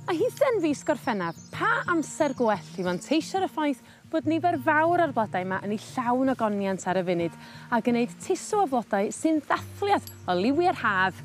A hithau'n fis Gorffennaf, pa amser gwell i fanteisio ar y ffaith bod nifer fawr o'r blodau 'ma yn eu llawn o goniant ar y funud a gneud tusw o flodau sy'n ddathliad o liwiau'r haf!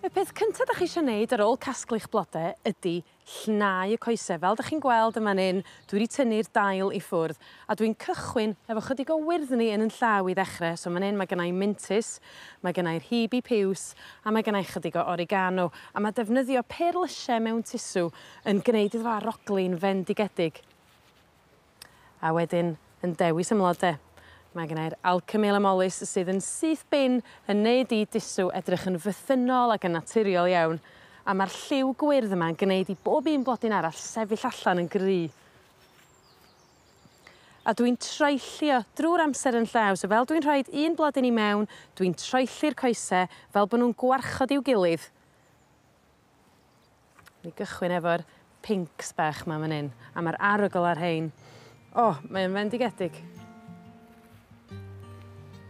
Y peth cynta' 'dach chi isio 'neud ar ôl casglu'ch blode ydi llnau y coese fel 'dach chi'n gweld yn fan 'yn dwi 'di tynnu'r dail i ffwrdd A dwi'n cychwyn hefo chydig o wyrddni yn 'yn llaw i ddechre so man 'yn ma' gynnai mintys ma' gynnai'r hebe piws a ma' gynnai chydig o oregano a ma' defnyddio pêr lysie mewn tusw yn gneud iddo fo arogli'n fendigedig. A wedyn yn dewis 'yn mlode. Ma' gynnai'r alchemy amallis sydd yn syth bin yn neud i dusw edrych yn fythynnol ac yn naturiol iawn a ma'r lliw gwyrdd yma'n gneud i bob un blodyn arall sefyll allan yn gry. A dwi'n troellio drw'r amser yn llaw so fel dwi'n rhoid un blodyn i mewn dwi'n troelli'r coese fel bo' nw'n gwarchod i'w gilydd. Ni gychwyn efo'r pincs bach 'ma man 'yn a ma'r arogl ar rhein o mae o'n fendigedig.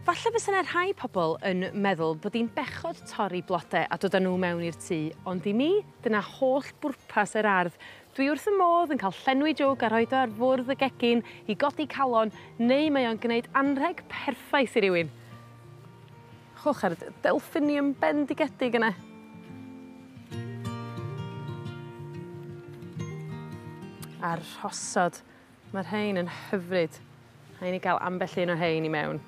Falle bysa 'ne rhai pobol yn meddwl bod 'i'n bechod torri blode a dod â n'w mewn i'r tŷ ond i mi dyna holl bwrpas yr ardd Dwi wrth fy modd yn cael llenwi jwg a rhoid o ar fwrdd y gegin i godi calon neu mae o'n gneud anrheg perffaith i rywun. Chwch ar y d- delphinium bendigedig yna. A rhosod Mae rhein yn hyfryd. Rhaid ni gael ambell un o rhein i mewn.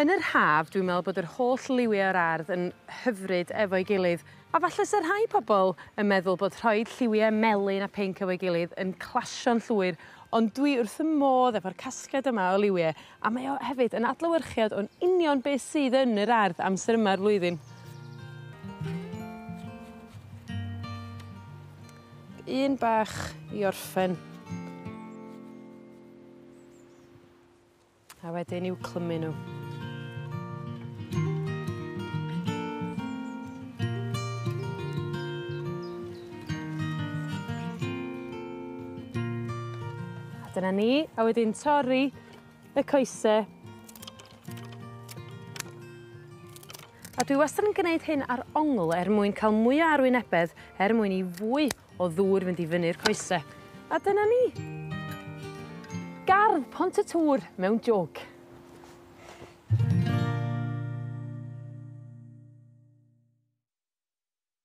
Yn yr haf dwi'n meddwl bod yr holl liwiau o'r ardd yn hyfryd efo'i gilydd a falle se rhai pobl yn meddwl bod rhoed lliwiau melyn a pinc efo'i gilydd yn clasio'n llwyr ond dwi wrth fy modd efo'r casgliad yma o liwiau A mae o hefyd yn adlewyrchiad o'n union be' sydd yn yr ardd amser yma o'r flwyddyn. Un bach i orffen. A wedyn i'w clymu n'w. A dyna ni, a wedyn torri y coese. A dwi wastad yn gneud hyn ar ongl er mwyn ca'l mwya arwynebedd er mwyn i fwy o ddŵr fynd i fyny'r coese. A dyna ni! Gardd Pont y Tŵr mewn jwg.